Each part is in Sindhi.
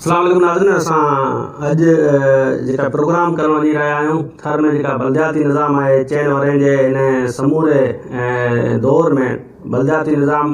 السلام علیکم ناظرين اسان اڄ جيڪا پروگرام ڪرڻ وڃي رهيا آهيون ٿر ۾ جيڪا بلدياتي نظام آهي چئن ورهين جي ان سموري دور ۾ بلدياتي نظام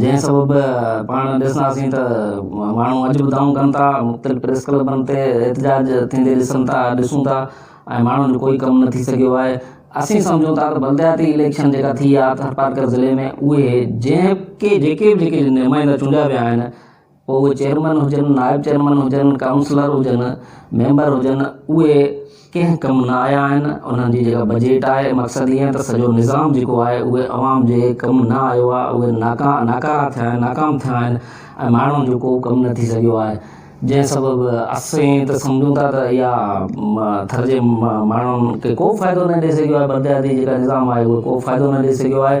جنهن سبب پاڻ ڏسنداسين ته ماڻهو اڄ به دانهون ڪن ٿا، مختلف پريس ڪلبن تي احتجاج ٿيندي ڏسن ٿا، ڏسون ٿا ۽ ماڻهن جو ڪوئي ڪم نه ٿي سگهيو آهي. اسين سمجهون ٿا ته بلدياتي اليڪشن جيڪا ٿي آ ٿرپارڪر ضلعي ۾ اهي جنهن ڪي جيڪي به جيڪي نمائندا چونڊيا ويا آهن، پوء اهي چيئرمين هجن، نائب چيئرمين هجن، ڪائونسلر هجن، ميمبر هجن اهي ڪنهن ڪم نه آيا آهن، انهن جي جيڪا بجيٽ آهي مقصد هي ته سڄو نظام جيڪو آهي اهو عوام جي ڪم نه آيو آهي اهي ناڪارا ٿيا آهن ناڪام ٿيا آهن ۽ ماڻهن جو ڪو ڪم نه ٿي سگهيو آهي جنهن سبب اسين ته سمجهون ٿا ته اها ٿر جي ماڻهن کي ڪو فائدو نه ڏئي سگهيو آهي بلڪه جيڪا نظام آهي اهو ڪو فائدو نه ڏئي سگهيو آهي